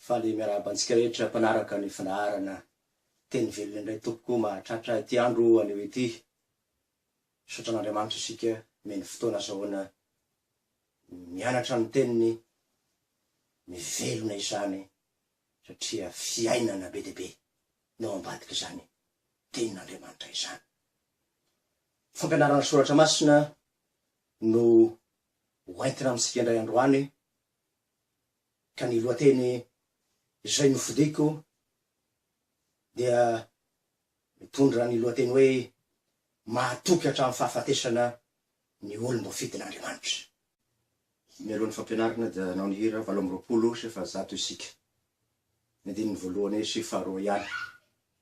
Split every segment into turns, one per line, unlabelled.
Faly miarahaba antsika rehetra mpanaraka ny fandaharana Teny velona indray tompoko mahatratra ity andro anio ity. Misaotra an'Andriamanitra isika omeny fotoana azahoana mianatra ny teniny, mivelona izany satria fiainana be dia be no ao ambadik'izany tenin'Andriamanitra izany. Fampianarana soratra masina no ho entina amintsika indray androany ka ny lohateny izay nofidiko dia mitondra ny lohateny hoe Mahatoky Hatramin'ny Fahafatesana ny Olom-boafidin'Andriamanitra. Mialoha ny fampianarana dia hanao ny hira valo amby roapolo sy efajato isika. Ny andininy voalohany sy faharoa ihany.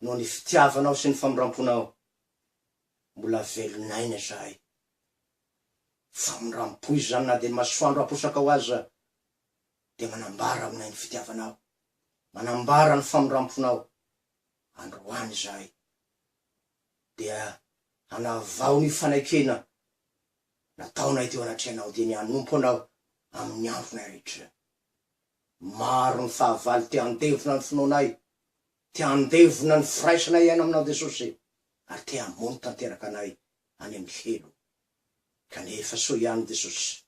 noho ny fitiavanao sy ny famindramponao. Mbola velon'aina izahay. Famindrampo izany na dia masoandro aposakao aza dia manambara aminay ny fitiavanao, manambara ny famindramponao. Androany izahay dia hanavao ny fanekena nataonay teo anatrehanao dia ny hanompo anao amin'ny andronay rehetra. Maro ny fahavalo te handevona ny finoanay Te handevona ny firaisana iaina aminao Jesosy ary te hamono tanteraka anay any amin'ny helo. Kanefa soa ihany Jesosy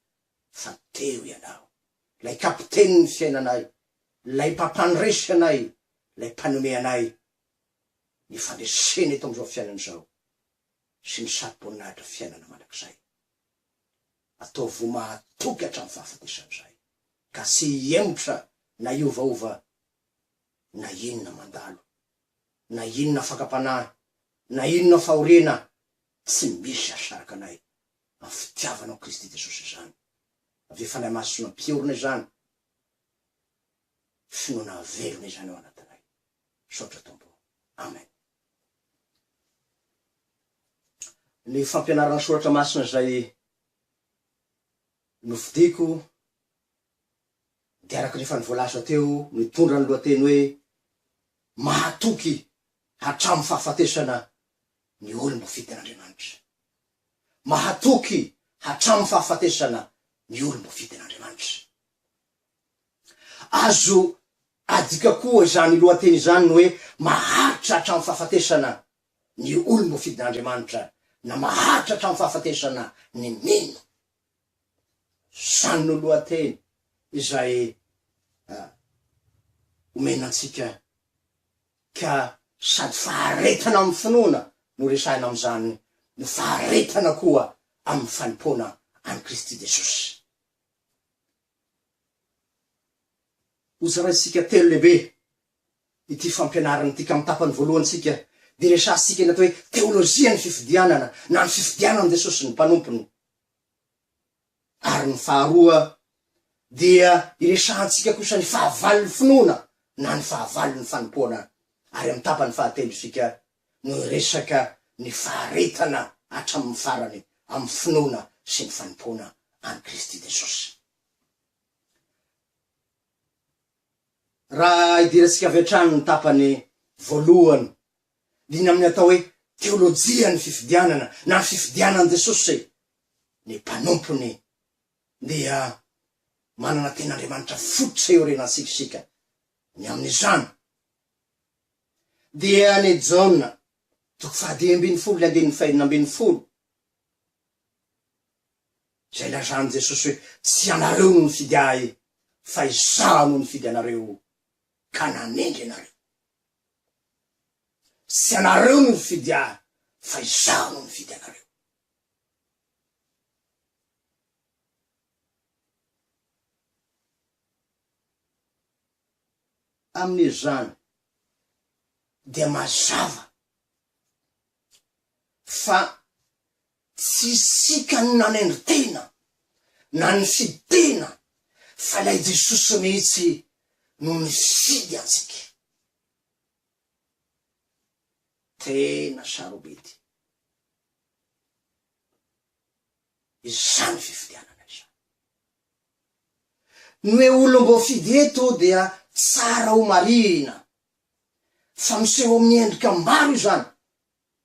fa teo Ianao, ilay Kapitenin'ny fiainanay, ilay Mpampandresy anay, ilay Mpanome anay ny fandresena eto amin'izao fiainana izao sy ny sarom-boninahitra fiainana mandrakizay. Ataovy ho mahatoky hatramin'ny fahafatesan'izay ka tsy hihemotra na hiovaova na inona mandalo, na inona fakam-panahy, na inona fahoriana, tsy misy hahasaraka anay amin'ny fitiavanao Kristy Jesosy izany. Avy eo Fanahy Masina mpiorina izany, finoana velona izany ao anatinay. Misaotra Tompo. Amen. Ny fampianarana soratra masina izay nofidiko dia araka ny efa nivoalaza teo, mitondra ny lohateny hoe Mahatoky hatramin'ny fahafatesana ny olom-bofidin'Andriamanitra. Mahatoky hatramin'ny fahafatesana ny olom-bofidin'Andriamanitra. Azo adika koa izany lohateny izany ny hoe maharitra hatramin'ny fahafatesana ny olom-bofidin'Andriamanitra na maharitra hatramin'ny fahafatesana ny mino. Izany no lohateny izay omena antsika ka sady faharetana amin'ny finoana no resahina amin'izany no faharetana koa amin'ny fanompoana an'i Kristy Jesosy. Hozaraintsika telo lehibe ity fampianarana ity ka amin'ny tapany voalohantsika dia resahantsika ny atao hoe teolojian'ny fifidianana na ny fifidianan'i Jesosy ny mpanompony. Ary ny faharoa dia iresahantsika kosa ny fahavalon'ny finoana na ny fahavalon'ny fanompoana, ary amin'ny tapany fahatelo isika no hiresaka ny faharetana hatramin'ny farany amin'ny finoana sy ny fanompoana an'i Kristy Jesosy. Raha idirantsika avy hatrany ny tapany voalohany Dina amin'ny atao hoe teolojian'ny fifidianana na fifidianan'i Jesosy ny mpanompony dia manana ten'Andriamanitra fototra iorenantsika isika ny amin'izany. Dia ny Jaona toko fahadimy ambin'ny folo ny andininy fahenina ambin'ny folo izay lazan'i Jesosy hoe tsy ianareo no nifidy ahy fa izaho no nifidy anareo ka nanendry anareo. Tsy ianareo no nifidy ahy fa izaho no nifidy anareo. Amin'izany dia mazava fa Tsy isika no nanendry tena na nifidy tena fa ilay Jesosy mihitsy no nifidy antsika. Tena sarobidy izany fifidianana izany. Ny hoe olom-boafidy eto dia tsara ho marihina fa miseho amin'ny endrika maro izany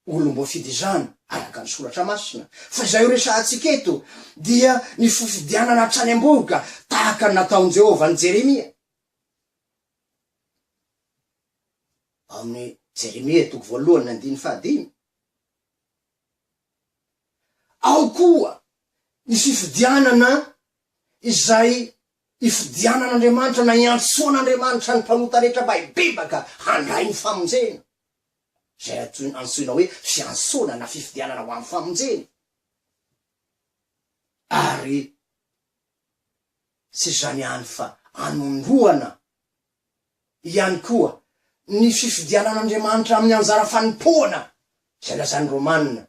olom-boafidy izany, araka ny Soratra Masina, fa izay ho resahantsika eto dia ny fifidianana hatrany am-bohoka, tahaka ny nataon'i Jehovah an'i Jeremia. Ao amin'ny Jeremia toko voalohany andininy fahadimy, ao koa ny fifidianana izay ifidianan'Andriamanitra na iantsoan'Andriamanitra ny mpanota rehetra mba hibebaka handray ny famonjena. izay antsoina antsoina hoe fiantsona na fifidianana ho amin'ny famonjena, ary tsy izany ihany fa anondroana ihany koa ny fifidianan'Andriamanitra amin'ny anjara fanompoana izay lazain'ny Romana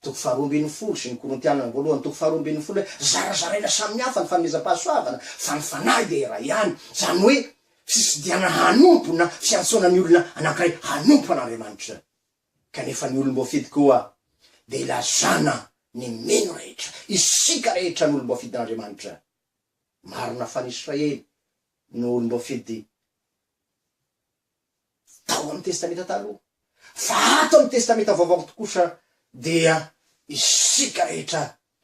Toko faharoa ambin'ny folo sy ny Korintianina voalohany toko faharoa ambin'ny folo hoe zarazaraina samy hafa ny fanomezam-pahasoavana fa ny Fanahy dia iray ihany, izany hoe tsisy diana hanompo na fiantsoana ny olona anankiray hanompo an'Andriamanitra. Kanefa ny olom-boafidy koa dia ilazana ny mino rehetra, isika rehetra no olom-boafidin'Andriamanitra. Marina fa ny Israely no olom-boafidy. tao amin'ny Testamenta Taloha, fa ato amin'ny Testamenta Vaovao kosa dia isika rehetra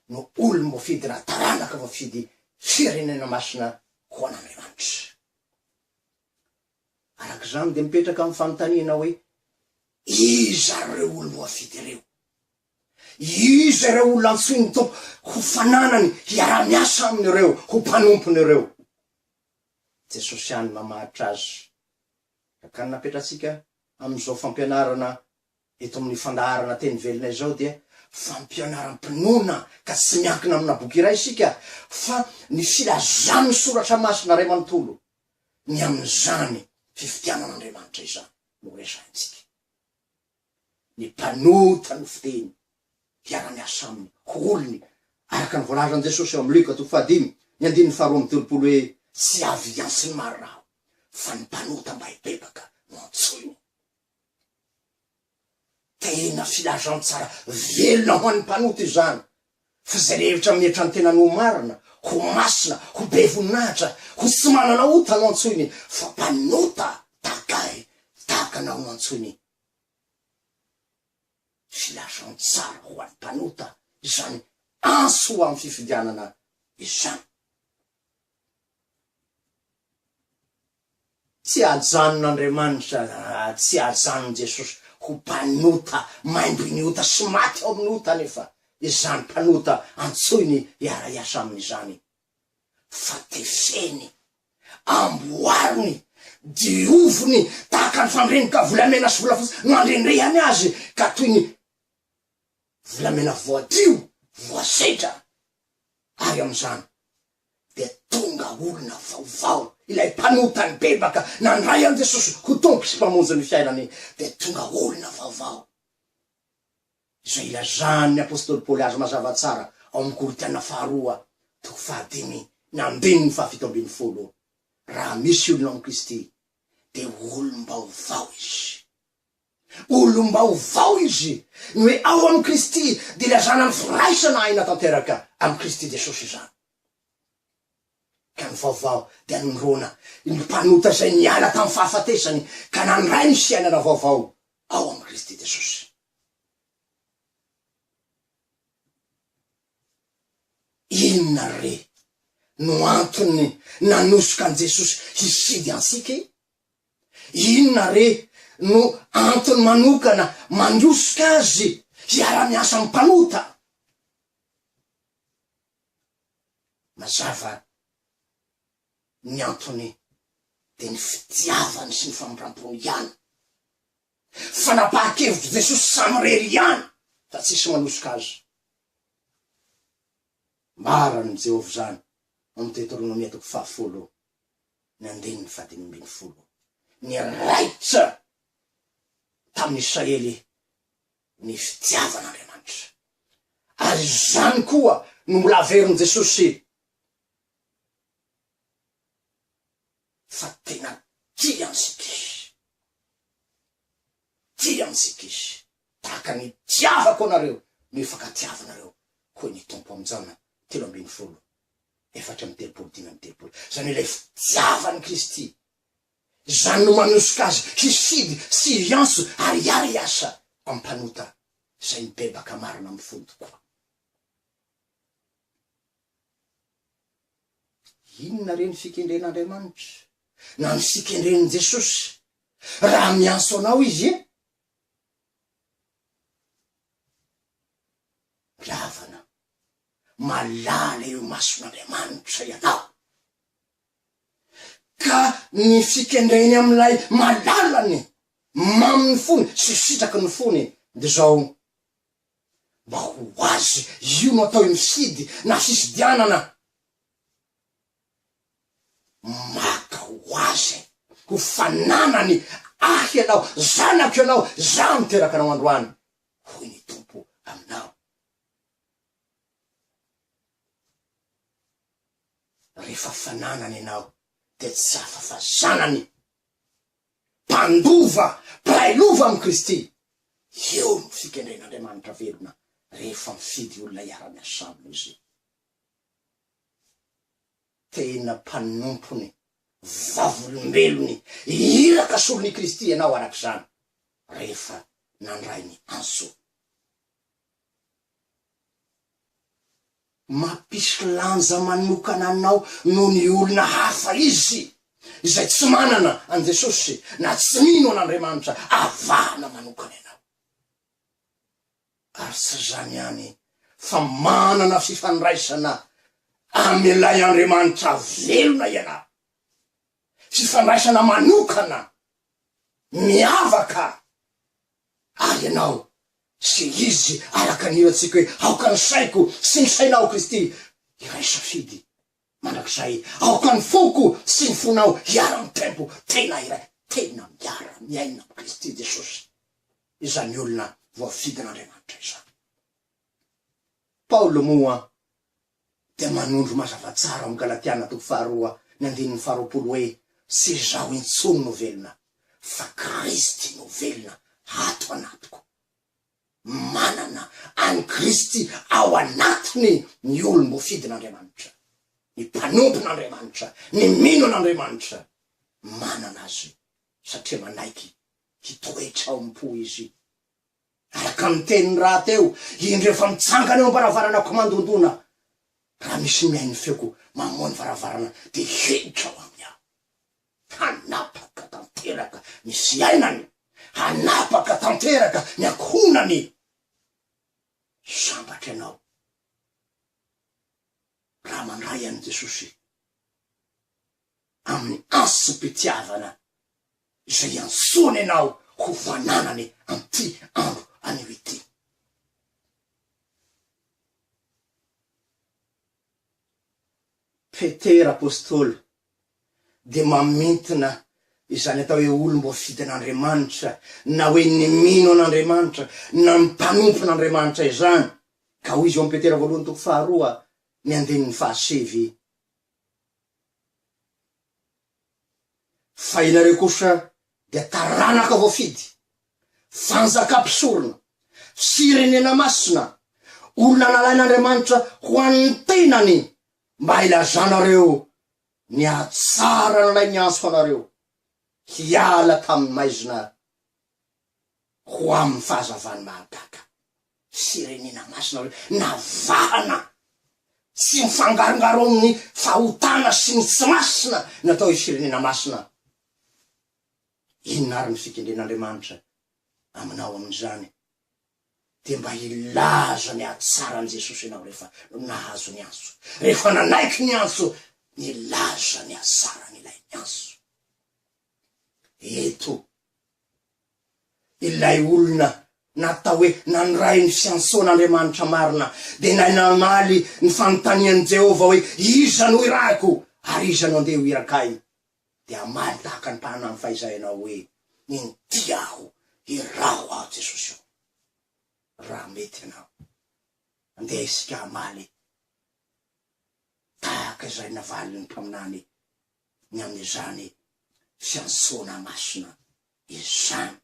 no olom-boafidy na taranaka voafidy firenena masina ho an'Andriamanitra. Araka izany dia mipetraka ny fanontaniana hoe, Iza ireo olom-boafidy ireo? Iza ireo olona antsoin'ny Tompo ho fananany hiara-miasa aminy ireo ho mpanompony ireo? Jesosy ihany mamaritra azy. Rakany napetratsika amin'izao fampianarana eto amin'ny fandaharana teny velona izao dia fampianaram-pinoana ka tsy miankina amina boky iray isika fa ny filazan'ny soratra masina iray manontolo, ny amin'izany fifidianan'Andriamanitra izany no resahintsika. ny mpanota ny fiteny, mpiara-miasa aminy, ho olony, araka ny voalazan'i Jesosy ao amin'ny Lioka toko fahadimy, ny andininy faharoa amby telopolo hoe, Tsy avy antsy ny maro raha aho, fa ny mpanota mba hibebaka no antsoiny. Tena filazantsara velona ho an'ny mpanota izany, Fa izay mihevitra amin'ny hevitrany tenany ho marina, ho masina, ho be voninahitra, ho tsy manana ota no antsoiny fa mpanota tahaka ahy, tahaka anao no antsoiny. Filazantsara ho an'ny mpanota izany antso ho amin'ny fifidianana izany. Tsy ajanon'Andriamanitra raha tsy ajanon'i Jesosy ho mpanota maimbin'ny ota sy maty ao amin'ny ota anefa izany mpanota antsoiny hiara-hiasa aminy izany, fa tefeny, amboariny, dioviny tahaka ny fandrenoka volamena sy volafotsy no andrendrehany azy ka toy ny volamena voadio, voasedra, ary amin'izany dia tonga olona vaovao, ilay mpanota nibebaka nandray an'i Jesosy ho Tompo sy Mpamonjy ny fiainany, dia tonga olona vaovao. Izay ilazan'ny apostoly Paoly azy mazava tsara ao amin'ny Korintiana faharoa toko fahadimy ny andininy fahafito ambin'ny folo, Raha misy olona ao amin'i Kristy, dia olom-baovao izy. Olom-baovao izy, ny hoe ao amin'i Kristy dia ilazana ny firaisana aina tanteraka amin'i Kristy Jesosy izany. Ka ny vaovao dia nirona ny mpanota izay niala tamin'ny fahafatesany ka nandray ny fiainana vaovao ao amin'i Kristy Jesosy. Inona re no antony nanosoka an'i Jesosy hifidy antsika e? Inona re no antony manokana mandrosoka azy hiara-miasa amin'ny mpanota? Mazava ny antony dia ny fitiavany sy ny famindram-pony ihany. Fanapahan-kevitr'i Jesosy samirery ihany fa tsisy manosoka azy. Ambaran'i Jehovah izany ao amin'ny Deteronomia toko fahafolo nandiny ny fahadimy ambin'ny folo, niraikitra tamin'ny Israely ny fitiavan'Andriamanitra. Ary izany koa no mbola averin'i Jesosy fa tena tia antsika Izy. Ty antsipis, tahaka ny tiavako anareo no ifankatiavanareo, hoy ny Tompo am Jan telo ambin'ny folo, efatra amby telopolo dimy amby telopolo. Izany hoe ilay fitiavan'i Kristy. Izany no manosoka azy hifidy sy hiantso ary hiara-hiasa am mpanota izay mibebaka marina am fony tokoa. Inona re ny fikendren'Andriamanitra? Na ny fikendren'i Jesosy? Raha miantso anao Izy e! Mpihavana, malala eo imason'Andriamanitra ianao. Ka ny fikendreny amin'ilay malalany, mamin'ny fony sy sitraky ny fony dia izao, Mba ho azy io no atao misidy na sisidianana Maka ho azy ho fananany Ahy ianao, zanako ianao, Izaho no niteraka anao androany, hoy ny Tompo aminao. Rehefa fananany ianao dia tsy afa-fa zanany. mpandova, mpiray lova amin'i Kristy. Io no fikendren'Andriamanitra velona rehefa mifidy olona hiara-miasa aminy Izy. Tena mpanompony, vavolombelony, iraka solon'i Kristy ianao araka izany, rehefa nandray ny antso. Mampisy lanja manokana anao noho ny olona hafa izy izay tsy manana an'i Jesosy na tsy mino an'Andriamanitra avahana manokana ianao. Ary tsy izany ihany fa manana fifandraisana amin'ilay Andriamanitra velona ianao, fifandraisana manokana, miavaka Ary ianao sy izy araka ny ilantsika hoe aoka ny saiko sy ny sainao Kristy hiray safidy mandrakizay aoka ny foko sy ny fonao hiara mitempo tena iray tena miara miaina amin'i Kristy Jesosy izany olona voafidin'Andriamanitra izany. Paoly moa dia manondro mazava tsara ao amin'ny Galatiana toko faharoa ny andininy faharoapolo hoe, Tsy izaho intsony no velona, fa Kristy no velona ato anatiko. Manana an'i Kristy ao anatiny ny olom-boafidin'Andriamanitra. Ny mpanompin'Andriamanitra, ny mino an'Andriamanitra, manana azy satria manaiky hitoetra ao am-po izy Araka ny teniny rahateo, indro efa mitsangana eo am-baravarana ko mandondona. Raha misy ny mihaino ny feoko mamoha ny varavarana dia hiditra ao aminy aho. Hanapaka tanteraka ny fiainany, hanapaka tanteraka ny ankohonany. Sambatra ianao raha mandray an'i Jesosy. amin'ny ansom-pitiavana izay iantsoany anao ho fananany amin'ity andro anio ity. Petera apostoly dia mamintina izany atao hoe olom-boafidy an'Andriamanitra na hoe ny mino an'Andriamanitra na ny mpanompo an'Andriamanitra izany, ka hoy izy ao amin'ny Petera voalohany toko faharoa ny andininy fahasivy, Fa ianareo kosa dia taranaka voafidy, fanjaka mpisorona, firenena masina, olona nalain'Andriamanitra ho an'ny tenany mba hilazanareo ny hatsara an'ilay niantso anareo hiala tamin'ny maizina. ho amin'ny fahazavan'ny mahagaga sy renena masina hoe navahana tsy mifangarongaro amin'ny fahotana sy ny tsy masina natao i Firenena Masina. Inona ary ny fikendren'Andriamanitra aminao amin'izany? Dia mba hilaza ny hatsaran'i Jesosy ianao rehefa nahazo ny antso, rehefa nanaiky ny antso, nilaza ny hatsaran'ilay niantso. eto. Ilay olona natao hoe nanorain'i Samsona Andriamanitra marina dia nahay namaly ny fanontanian'i Jehovah hoe, Iza no irahiko, ary iza no handeha ho irak'i ahy? Dia hamaly tahaka ny mpahana amin'ny fahizay ianao hoe, Inty aho, iraho aho Jesosy ô. Raha mety ianao, andeha isika hamaly tahaka izay navalin'ny mpaminany ny amin'izany fiantsoana masina izany.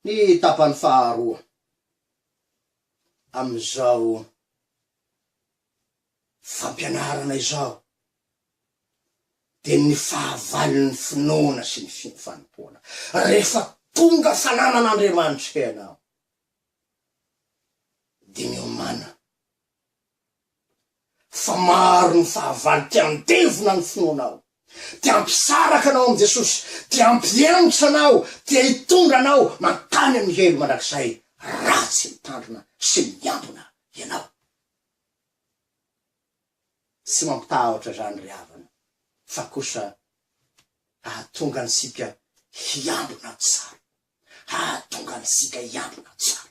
Ny tapany faharoa amin'izao. fampianarana izao dia ny fahavalon'ny finoana sy ny fanompoana. Rehefa tonga fanaman'Andriamanitra ianao dia miomana fa maro ny fahavalo te handevona ny finoanao, te hampisaraka anao amin'i Jesosy, te hampihemotra anao, te hitondra anao mankany amin'ny helo mandrakizay raha tsy mitandrina sy miambina ianao. Tsy mampitahotra izany ry havana fa kosa hahatonga antsika hiambina tsara, hahatonga antsika hiambina tsara.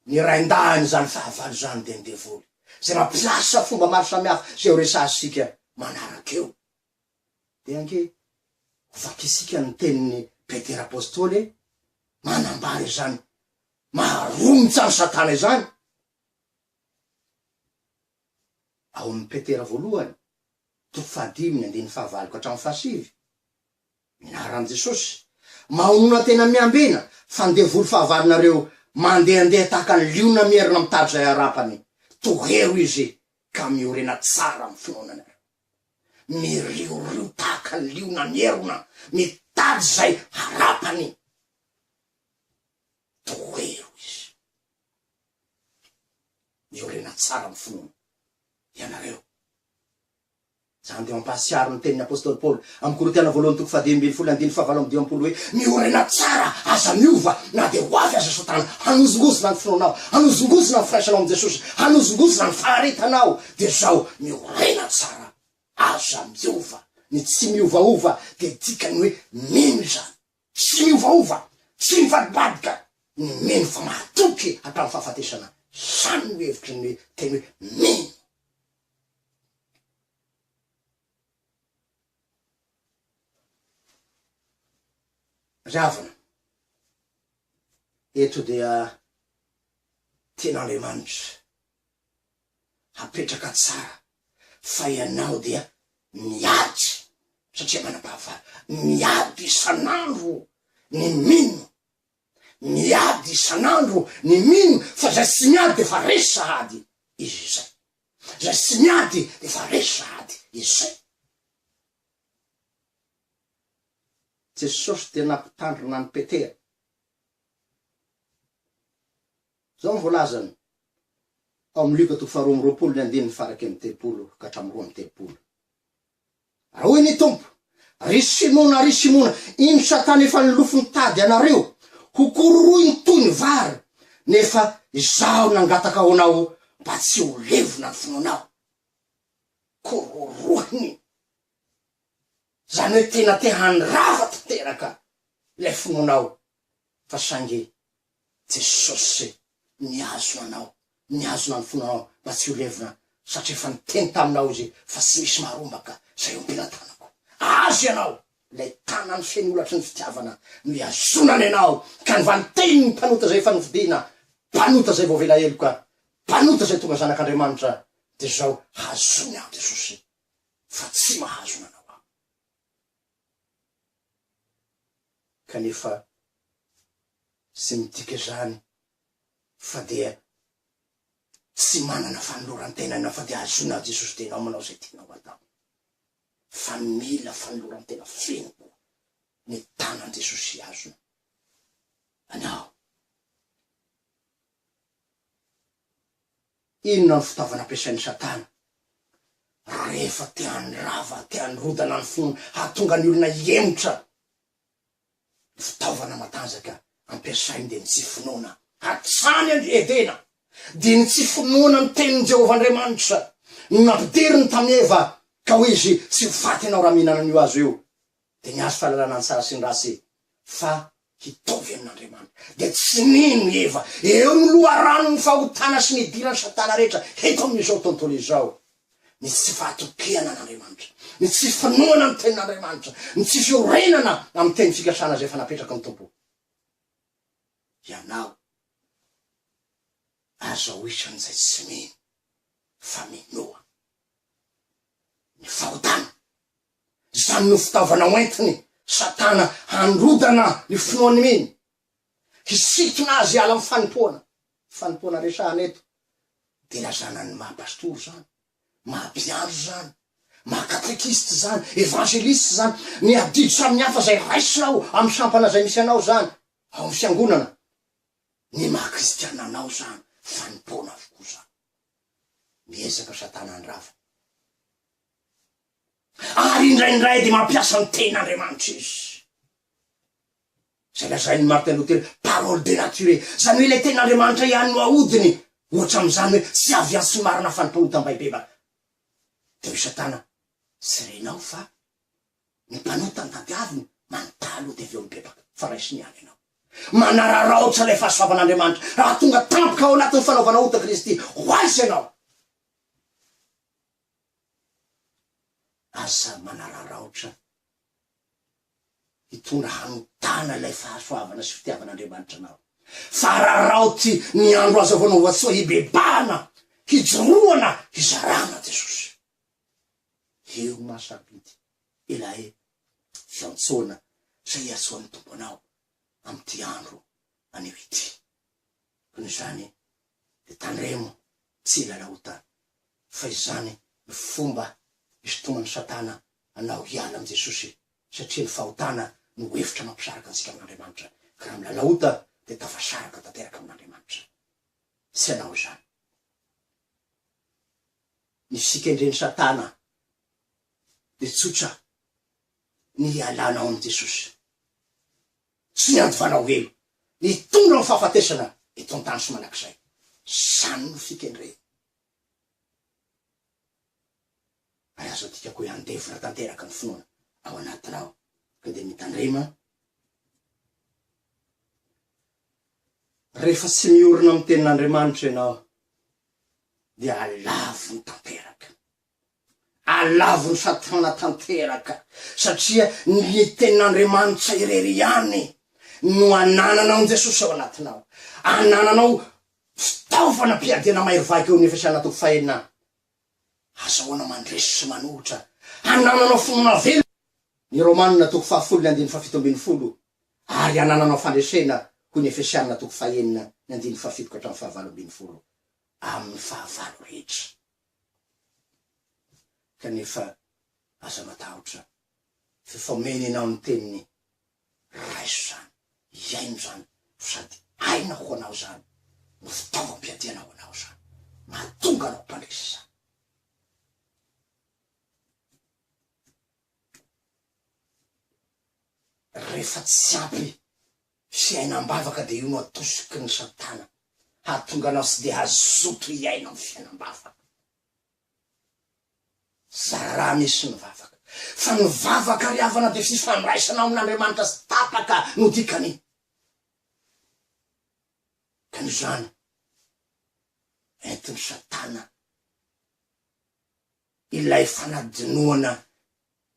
Ny rain-dahin'izany fahavalo izany dia ny devoly izay mampiasa fomba maro samihafa izay horesahantsika manaraka eo. Dia ange ho vakisika ny tenin'i Petera Apostoly e! Manambara izany maha-romotra an'i Satana izany ao amin'i Petera Voalohany, toko fahadimy, andininy fahavalo ka hatramin'ny fahasivy. Mianara amin'i Jesosy, Mahonona tena miambena, fa ny devoly fahavalonareo mandehandeha tahaka ny liona mierona mitady izay harapany. Tohero izy ka miorena tsara amin'ny finoananareo. miriorio tahaka ny liona mierona mitady izay harapany. Tohero izy. Miorena tsara amin'ny finoana ianareo. Izany dia mampahatsiaro ny tenin'ny apostoly Paoly. Amin'ny Korintiana voalohany toko fahadimy ambin'ny folo andininy fahavalo amby dimampolo hoe, Miorina tsara, aza miova, na dia ho avy aza Satana, hanozongozona ny finoanao, hanozongozona ny firaisanao amin'i Jesosy, hanozongozona ny faharetanao, dia zao, miorina tsara, aza miova. Ny tsy miovaova dia dikany hoe mino izany. Tsy miovaova, tsy mivadibadika, ny mino fa mahatoky hatramin'ny fahafatesana, izany no hevitry ny teny hoe mino. Ravina. Eto dia tian'Andriamanitra hapetraka tsara fa ianao dia miady satria manam-pahafaly. Miady isan'andro ny mino. Miady isan'andro ny mino fa izay tsy miady dia efa resy sahady izy izay. Izay tsy miady dia efa resy sahady izay. Jesosy dia nampitandrina an'i Petera. Izao no voalazany ao amin'ny Lioka toko faharoa amby roapolo ny andininy faharaika amby telopolo ka hatramin'ny roa amby telopolo. Hoy ny Tompo, Ry Simona, ry Simona, iny Satana efa nilofo nitady anareo ho kororoiny toy ny vary, nefa Izaho nangataka ho anao mba tsy ho levona ny finoanao. Kororohiny, izany hoe tena te handrava tanteraka ilay finoanao, fa saingy Jesosy nihazona anao, nihazona ny fonao mba tsy ho levona, satria efa niteny taminao Izy fa tsy misy maharombaka izay ompilan-tanako. Azy ianao, ilay tanany feno holatry ny fitiavana no ihazonany anao ka nivanteny ny mpanota izay efa nofidina, mpanota izay voavela heloka, mpanota izay tonga zanak'Andriamanitra, dia izao, hazony aho Jesosy, fa tsy mahazona anao aho. kanefa tsy midika izany fa dia tsy manana fanoloran-tena ianao fa dia ahazoana an'i Jesosy dia ianao manao izay tianao atao fa mila fanoloran-tena feno koa ny tanan'i Jesosy hihazona anao. Inona no fitaovana ampiasain'i Satana rehefa te handrava, te hanorodana ny finoana, hahatonga ny olona hihemotra? Ny fitaovana matanjaka ampiasainy dia ny tsy finoana. Hatrany an-dry Edena, dia ny tsy finoana ny tenin'i Jehovah Andriamanitra no nampidiriny tamin'i Eva ka hoy izy, Tsy ho faty ianao raha mihinana an'io hazo io. Dia ny hazo fahalalana ny tsara sy ny ratsy fa hitovy amin'Andriamanitra. Dia tsy nino i Eva. Eo ny loharanon'ny fahotana sy ny idiran'i Satana rehetra eto amin'izao tontolo izao, ny tsy fahatokihana an'Andriamanitra, ny tsy finoana ny Tenin'Andriamanitra, ny tsy fiorenana amin'ny teny fikasana izay efa napetraky ny Tompo. Ianao aza ho isan'izay tsy mino fa minoa ny fahotana. Izany no fitaovana hoentin'i Satana handrodana ny finoan'ny mino, hisintona azy hiala amin'ny fanompoana. Io fanompoana resahana eto dia zanany maha pastora izany, maha mpiandry izany, maha katekista izany, evangeliste izany, ny adidy samihafa izay raisinao amin'ny sampana izay misy anao izany, ao amin'ny fiangonana, ny maha kristiana anao izany, fanompoana avokoa izany. Miezaka Satana handrava Ary indraindray dia mampiasa ny tenin'Andriamanitra izy. Izay lazain'i Martin Luther, parole de nature, izany hoe ilay tenin'Andriamanitra ihany no ahodiny, ohatra amin'izany hoe tsy avy any tsy marina fa ny mpahotam-baibeba. Dia hoy Satana, Tsy renao fa ny mpanota no tadiaviny, manontalo dia avy eo mibebaka, fa raisiny ihany ianao. Manararaotra ilay fahasoavan'Andriamanitra raha tonga tampoka ao anatin'ny fanaovana ota Kristy ho azy ianao. Aza manararaotra hitondra hanontana ilay fahasoavana sy fitiavan'Andriamanitra anao, fa araraoty ny andro azo hanaovan-tsoa, hibebahana, hijoroana, hizarana Jesosy. Eo ma safidy ilay fiantsoana izay iantsoan'ny Tompo anao amin'ity andro maneho ity. Noho izany dia tandremo tsy hilala ota fa izany no fomba isintoman'i satana anao hiala amin'i Jesosy satria ny fahotana no hevitra mampisaraka antsika amin'Andriamanitra ka raha milala ota dia tafasaraka tanteraka amin'Andriamanitra. Tsy hanao izany ny sikendren'i satana dia tsotra ny hialanao amin'i Jesosy. Tsy niandohanao elo nitondra ny fahafatesana eto an-tany sy mandrakizay. Izany no fikendrena. Ary aza adikako hoe handevona tanteraka ny finoana ao anatinao ka dia mitandrema rehefa tsy miorina amin'ny Tenin'Andriamanitra ianao dia alavony tanteraka. Alavon'i Satana tanteraka, satria ny Tenin'Andriamanitra irery ihany no anananao ny Jesosy ao anatinao. Anananao fitaovana am-piadiana mahery vaika eo amin'ny Efesiana toko fahenina, Azahoana mandresy sy manohitra. Anananao finoana velona, ny Romana toko fahafolo ny andininy fahafito ambin'ny folo, ary anananao fandresena, hoy ny Efesiana toko fahenina ny andininy fahafito ka hatramin'ny fahavalo ambin'ny folo, amin'ny fahavalo rehetra. Kanefa aza matahotra, f'efa omeny anao ny teniny, raiso izany, iaino izany, fa sady aina ho anao izany, no fitaovam-piadiana ho anao izany, mahatonga anao mpandresy izany. Rehefa tsy ampy Fiainam-bavaka dia io no atosiky ny satana hahatonga anao tsy dia hazoto hiaina ny fiainam-bavaka. Zara raha misy ny vavaka. Fa ny vavaka ry havana dia fifandraisana ao amin'Andriamanitra tsy tapaka no dikan'iny. Ka noho izany, entin'ny satana. ilay fanadinoana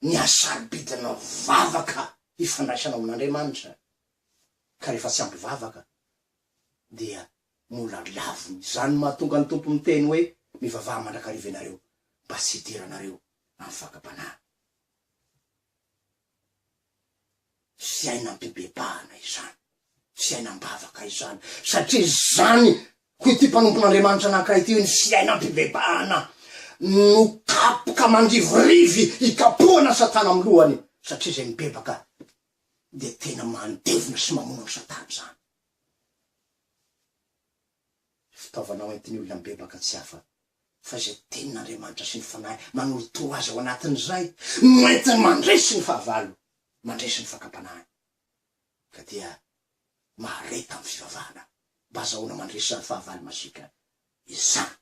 ny hasarobidinao vavaka hifandraisanao amin'Andriamanitra, ka rehefa tsy ampy vavaka dia mbola laviny, izany mahatonga ny Tompo miteny hoe, mivavaha mandrakariva ianareo mba tsy hidiranareo amin'ny fakam-panahy. fiainam-pibebahana izany, fiainam-bavaka izany, satria izany, hoy ity mpanompon'Andriamanitra anankiray ity hoe ny fiainam-pibebahana no kapoka mandivorivy hikapohana Satana amin'ny lohany, satria izay mibebaka dia tena mandevona sy mamono an'i Satana izany. Fitaovana hoentin'ny olona mibebaka tsy hafa fa izay Tenin'Andriamanitra sy ny Fanahy manolotoa azy ao anatin'izay no entiny mandresy ny fahavalo, mandresy ny fakam-panahiny. Ka dia mahareta amin'ny fivavahana mba azahoana mandresy izany fahavalo masiaka izany.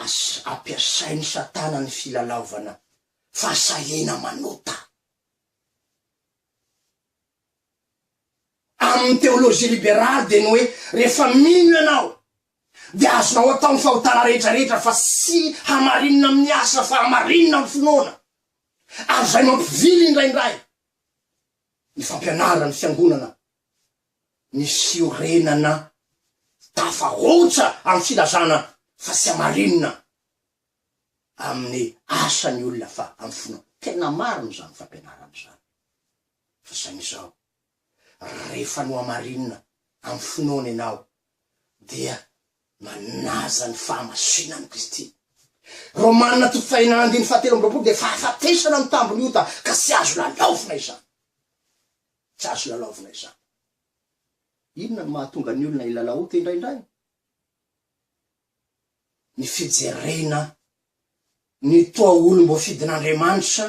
Asa ampiasain'i Satana ny filalaovana fahasahiana manota. Amin'ny teolojia liberaly dia ny hoe rehefa mino ianao dia azonao atao ny fahotana rehetrarehetra fa tsy hamarinina amin'ny asa fa hamarinina amin'ny finoana. Ary izay mampivily indraindray ny fampianaran'ny fiangonana ny fiorenana tafahoatra amin'ny filazana fa tsy hamarinina amin'ny asa ny olona fa amin'ny finoana. Tena marina izany fampianarana izany. Fa izany izao, rehefa nohamarinina amin'ny finoana ianao, dia manaja ny fahamasinan'i Kristy. Romana toko fahina andiny fahatelo amby roapolo dia fahafatesana amin'ny tambin'ny ota, ka tsy azo lalaovina izany. Tsy azo lalaovina izany. Inona no mahatonga ny olona hilalao ota indraindray? Ny fijerena ny toa olom-boafidin'Andriamanitra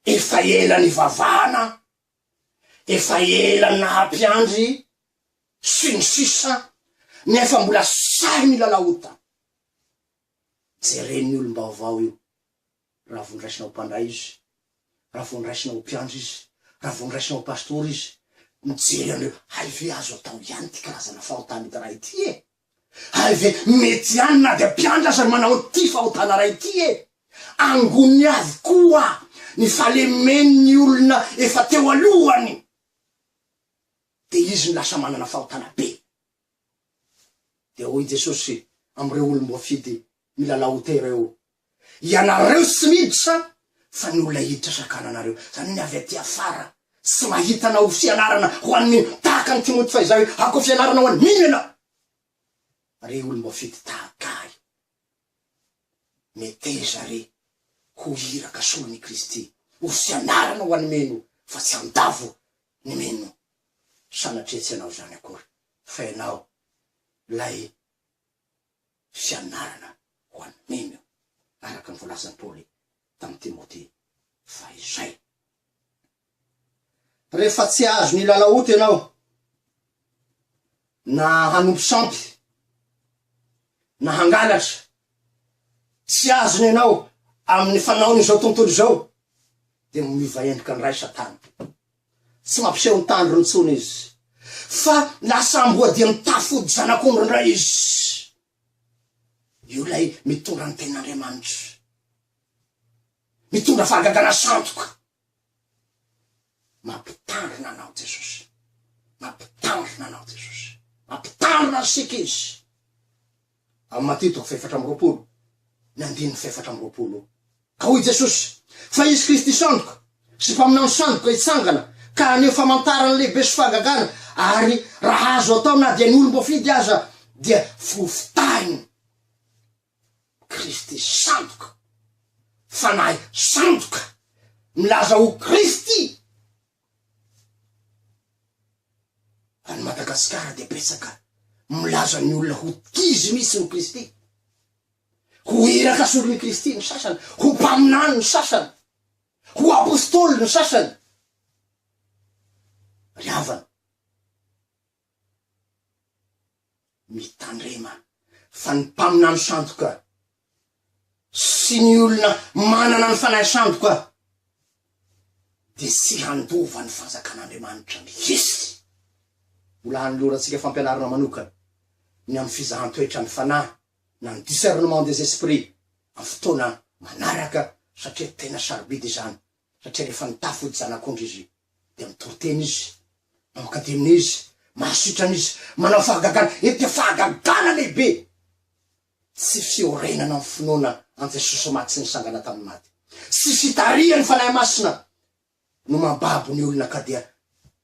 Efa ela nivavahana, efa ela naha mpiandry, sy ny sisa Nefa mbola sahy milalao ota. Jeren'ny olom-baovao io, raha vao noraisina ho mpandray izy, raha vao noraisina ho mpiandry izy, raha vao noraisina ho pastora izy, mijery an'ireo hay ve azo atao ihany ity karazana fahotana idiray ity e? Hay ve mety ihany na dia mpiantra aza no manao an'ity fahotana iray ity e! Angony avokoa ny fahalemen'ny olona efa teo alohany dia izy no lasa manana fahotana be. Dia hoy Jesosy amin'ireo olom-boafidy Milalao te reo. Ianareo tsy miditra fa ny olona hiditra sakananareo. Zany hoe ny avy aty afara tsy mahita na ho fianarana ho an'ny ino. Tahaka an'i Timoty fahizay hoe ako fianarana ho an'ny ino ianao. Re olom-boafidy tahaka ahy. Meteza re ho iraka solon' i Kristy. Ho fianarana ho an'ny mino fa tsy handavo ny mino. Sanatria tsy ianao zany akory fa ianao lay. fianarana ho an'ny mino, araka ny voalazan'i Paoly tamin'i Timoty fahizay. Rehefa tsy azon'ny hilalaoty ianao na hanompo sampy na hangalatra, tsy azony ianao amin'ny fanaon'izao tontolo izao, dia miova endrika ny ray Satana. Tsy mampiseho ny tandrony intsony izy, fa lasa amboadia mitafy fody zanak'ondry indray izy. Io ilay mitondra ny tenin'Andriamanitra, mitondra fahagagana sandoka. Mampitandrina anao Jesosy, mampitandrina anao Jesosy, mampitandrina antsika Izy. Amin'ny Matia toko fahefatra amby roapolo, ny andininy fahefatra amby roapolo. Ka hoy Jesosy, Fa hisy Kristy sandoka, sy mpaminany sandoka hitsangana, ka haneho famantarana lehibe sy fahagagana, ary raha azo atao na dia ny olom-boafidy aza dia fofotahiny. Kristy sandoka. Fanahy sandoka. Milaza ho Kristy. Any Madagasikara dia betsaka milaza ny olona ho t'izy mihitsy ny Kristy. Ho iraka solon'i Kristy ny sasany, ho mpaminany ny sasany, ho apostoly ny sasany. Ry havana, Mitandrema fa ny mpaminany sandoka sy ny olona manana ny fanahy sandoka dia tsy handova ny Fanjakan'Andriamanitra mihitsy. Mbola hanolorantsika fampianarana manokana ny amin'ny fizahan-toetra ny fanahy na ny discernement des esprits amin'ny fotoana manaraka satria tena sarobidy izany satria rehefa nitafa ho zanak'ondry izy dia mitory tena izy, mamoaka demony izy, mahasitrana izy, manao fahagagana, eny dia fahagagana lehibe, tsy fiorenana ny finoana an'i Jesosy maty sy nisangana tamin'ny maty, sy fitarihan'ny Fanahy Masina no mambabo ny olona ka dia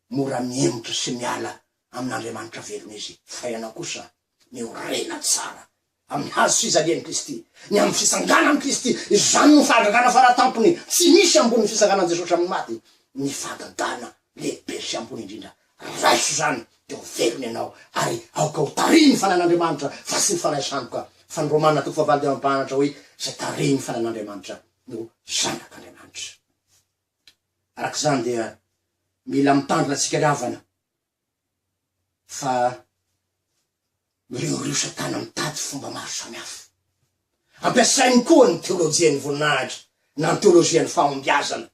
mora mihemotra sy miala amin'Andriamanitra velona izy, fa ianao kosa miorena tsara Amin'ny hazo fijalian'i Kristy. Ny amin'ny fitsanganan'i Kristy. Izany no fahagagana faratampony. Tsy misy ambonin'ny fitsanganan'i Jesosy amin'ny maty. Ny fahagagana lehibe sy ambony indrindra. Raiso izany dia ho velona ianao ary aoka ho tarihin' ny Fanahin' Andriamanitra fa tsy ny fanahy sandoka. Fa ny Romana toko fahavalo dia mampahanatra hoe izay tarihin' ny Fanahin' Andriamanitra no zanak' Andriamanitra. Araka izany dia mila mitandrina tsika ry havana fa mireoreosa tana mitady fomba maro samihafa. Ampiasainy koa ny teolojian'ny voninahitra na ny teolojian'ny fahombiazana.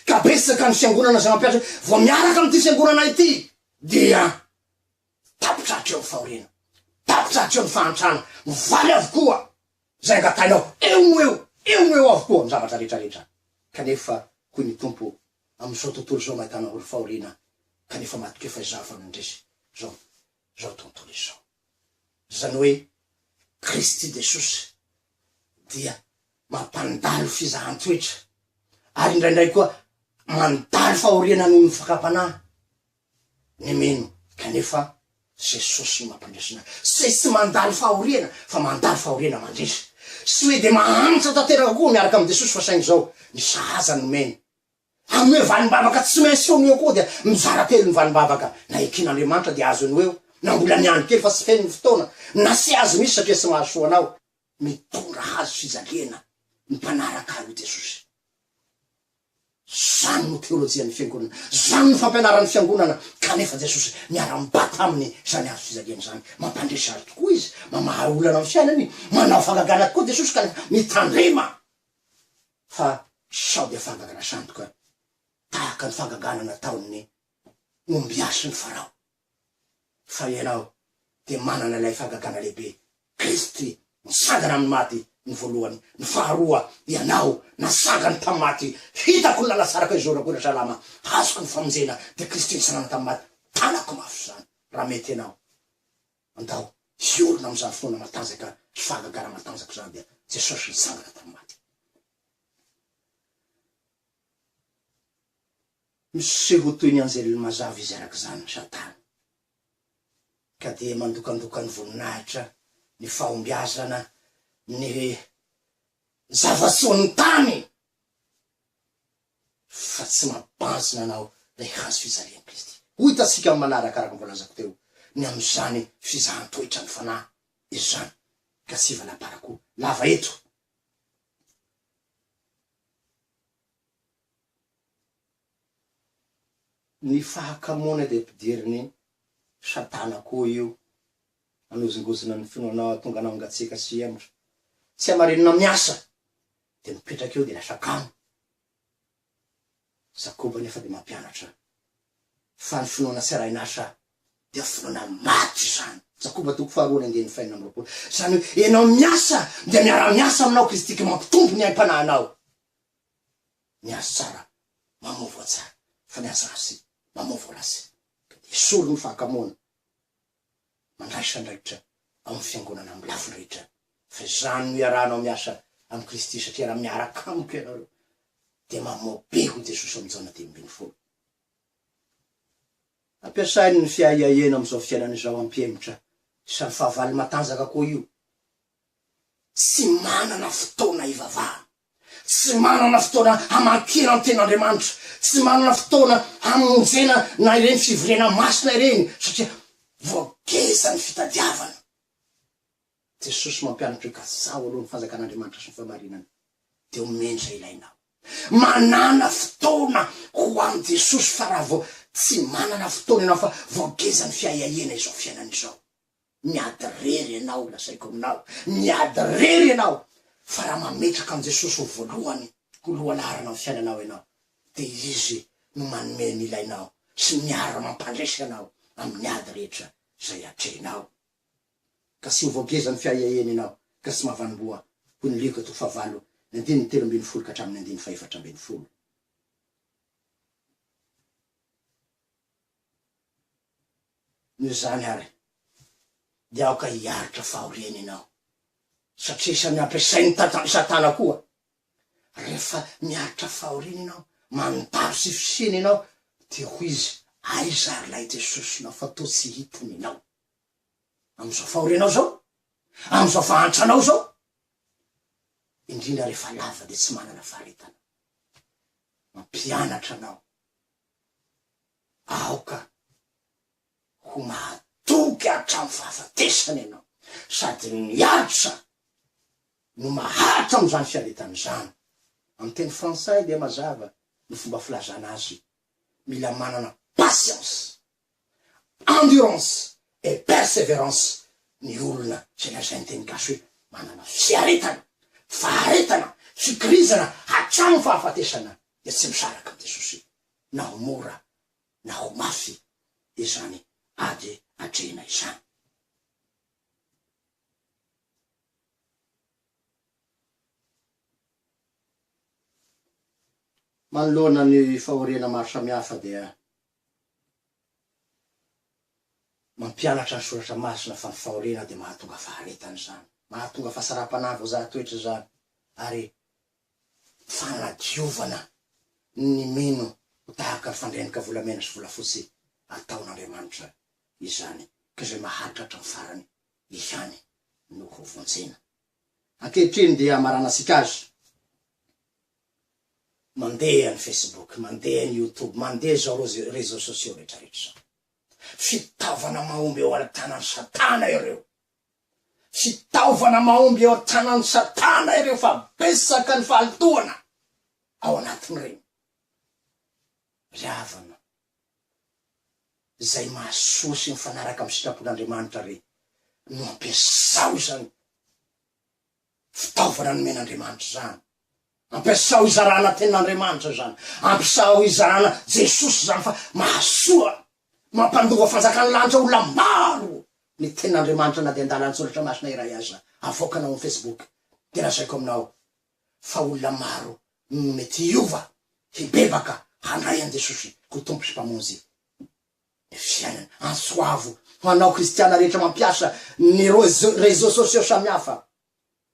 Ka betsaka ny fiangonana izay mampiasa, vao miaraka amin'ity fiangonana ity dia tapitra hatreo ny fahoriana, tapitra hatreo ny fahantrana, mivaly avokoa izay angatahinao, eo no eo, eo no eo avokoa ny zavatra rehetra rehetra. Kanefa hoy ny Tompo, amin'izao tontolo izao maitana olo fahoriana kanefa matoky eo fa izaho vao nandresy izao izao tontolo izao. Izany hoe Kristy Jesosy dia mampandalo fizahan-toetra ary indraindray koa mandalo fahoriana noho ny fakam-panahy. ny mino kanefa Jesosy no mampandresy ny Tsy tsy mandalo fahoriana fa mandalo fahoriana mandresy Tsy hoe dia mahantra tanteraka koa miaraka amin'i Jesosy fa saingy izao ny sahaza no omeny Hanome valim-bavaka tsy maintsy eo no eo koa dia mizara telo ny valim-bavaka Na eken'Andriamanitra dia azony ho eo na mbola ny andro kely fa tsy feno ny fotoana Na tsy azo mihitsy satria tsy mahazo soa anao Mitondra hazo fijaliana ny mpanaraka ahy hoy Jesosy. Zany no teolojian'ny fiangonana. Zany no fampianaran'ny fiangonana kanefa Jesosy miara-mibata aminy izany hazo fijaliana izany. Mampandresy azy tokoa izy, mamaha olana amin'ny fiainany, manao fahagagana tokoa Jesosy kanefa mitandrema fa sao dia fahagagana sandoka tahaka ny fahagagana nataon'ny ombiasin'i Farao. fa ianao dia manana ilay fangagana lehibe, Kristy nitsangana amin'ny maty ny voalohany, ny faharoa ianao natsangany tamin'ny maty, hitako ny lalantsarako hizorako eny Salama, hazoko ny famonjena, dia Kristy nitsangana tamin'ny maty, tanako mafy izany, raha mety ianao, andao hiorina amin'izany finoana matanjaka sy fahagagana matanjaka izany, dia Jesosy nitsangana tamin'ny maty. Miseho toy ny anjely mazava izy araka izany, Satana, ka dia mandokandoka ny voninahitra, ny fahombiazana, ny zava-tsoan'ny tany, fa tsy mabanjina anao ilay hazo fijalian'i Kristy. Ho hitantsika amin'ny manaraka, araka ny voalazako teo, ny amin'izany fizahan-toetran'ny Fanahy izany, ka tsy hivalamparako lava eto. Ny fahakamoana dia ampidirin'i Satana koa io hanozongozona ny finoanao hahatonga anao hangatsiaka sy hihemotra. Tsy hamarinina miasa dia mipetraka eo dia lasa kamo. Jakoba anefa dia mampianatra fa ny finoana tsy arahin'asa dia finoana maty izany. Jakoba toko faharoa ny andininy fahenina amby roapolo. Izany hoe, ianao miasa dia miara-miasa aminao Kristy ka mampitombo ny aim-panahinao. miasa tsara mamao voa tsara fa ny aza azy mamao voa ratsy de esory ny fahakamoana mandraisa andraikitra ao amin'ny fiangonana amin'ny lafiny rehetra fa izany no iarahanao miasa amin'i Kristy satria raha miaraka amiko ianareo dia mamao be hoy Jesosy amin'ny Jaona dimy ambin'ny folo. Ampiasainy ny fiahiahiana amin'izao fiainana izao hampihemotra sady fahavalo matanjaka koa io tsy manana fotoana hivavahana, tsy manana fotoana hamakiana ny Tenin'Andriamanitra, tsy manana fotoana hamonjena na ireny fivoriana masina ireny satria voageja ny fitadiavana. Jesosy mampianatra hoe kajaho aloha ny fanjakan'Andriamanitra sy ny fahamarinany dia omeny izay ilainao. Manàna fotoana ho an'i Jesosy fa raha vao tsy manana fotoana ianao fa voageja ny fiahiahiana izao fiainana izao, Miady rery ianao, lazaiko aminao, miady rery ianao, fa raha mametraka an'i Jesosy ho voalohany, ho lohalaharana amin'ny fiainanao ianao, dia Izy no manome ny ilainao sy ny miara-mampandresy anao amin'ny ady rehetra izay atrehinao. Ka tsy ho voagezan'ny fiahiahiany ianao, ka tsy mahavanimboa, hoy ny Lioka toko fahavalo, ny andininy telo ambin'ny folo ka hatramin'ny andininy fahefatra ambin'ny folo. Noho izany àry, dia aoka hiaritra fahoriana ianao, satria samy ampiasain'i Tata, Satana koa. Rehefa miaritra fahoriana ianao, manotavy sy fisiana ianao, dia hoy izy, Aiza àry ilay Jesosinao fa toa tsy hita ny anao? Amin'izao fahorianao izao? Amin'izao fahantranao izao? Indrindra rehefa lava dia tsy manana faharetana. Mampianatra anao. Aoka ho mahatoky hatramin'ny fahafatesana ianao, sady ny asa no maharitra amin'izany fiaretana izany. Amin'ny teny frantsay dia mazava ny fomba filazana azy, mila manana patience Endurance et perseverance ny olona izay lazain'ny teny gasy hoe manana fiaretana, faharetana, fikirizana hatramin'ny fahafatesana dia tsy misaraka amin'i Jesosy na ho mora na ho mafy izany ady atrehina izany. Manoloana ny fahoriana maro samihafa dia Mampianatra ny Soratra Masina fa ny fahoriana dia mahatonga faharetana izany, mahatonga fahasaram-panahy voazaha toetra izany, ary fanadiovana ny mino ho tahaka ny fandrenika volamena sy volafotsy ataon'Andriamanitra izany, ka izay maharitra hatramin'ny farany ihany no hovonjena. Ankehitriny dia hamaranantsika azy. Mandeha ny Facebook, mandeha ny YouTube, mandeha izao réseaux sociaux rehetrarehetra izao. Fitaovana mahomby eo an-tanan'i Satana ireo. Fitaovana mahomby eo an-tanan'i Satana ireo fa betsaka ny valintohana ao anatin'ireny. Ry havana, izay mahasoa sy mifanaraka amin'ny sitrapon'Andriamanitra re no ampiasao izany. Fitaovana nomen'Andriamanitra izany. Ampiasao hizarana tenin'Andriamanitra izany. Ampiasao hizarana Jesosy izany fa mahasoa. Mampandova fanjakan'ny lanitra olona maro ny tenin'Andriamanitra na dia andalan-tsoratra masina iray aza avoakanao amin'ny Facebook dia lazaiko aminao fa olona maro no mety hiova, hibebaka, handray an'i Jesosy ho Tompo sy Mpamonjy. ny fiainana. Antsoavo ho anao kristiana rehetra mampiasa ny réseaux sociaux samihafa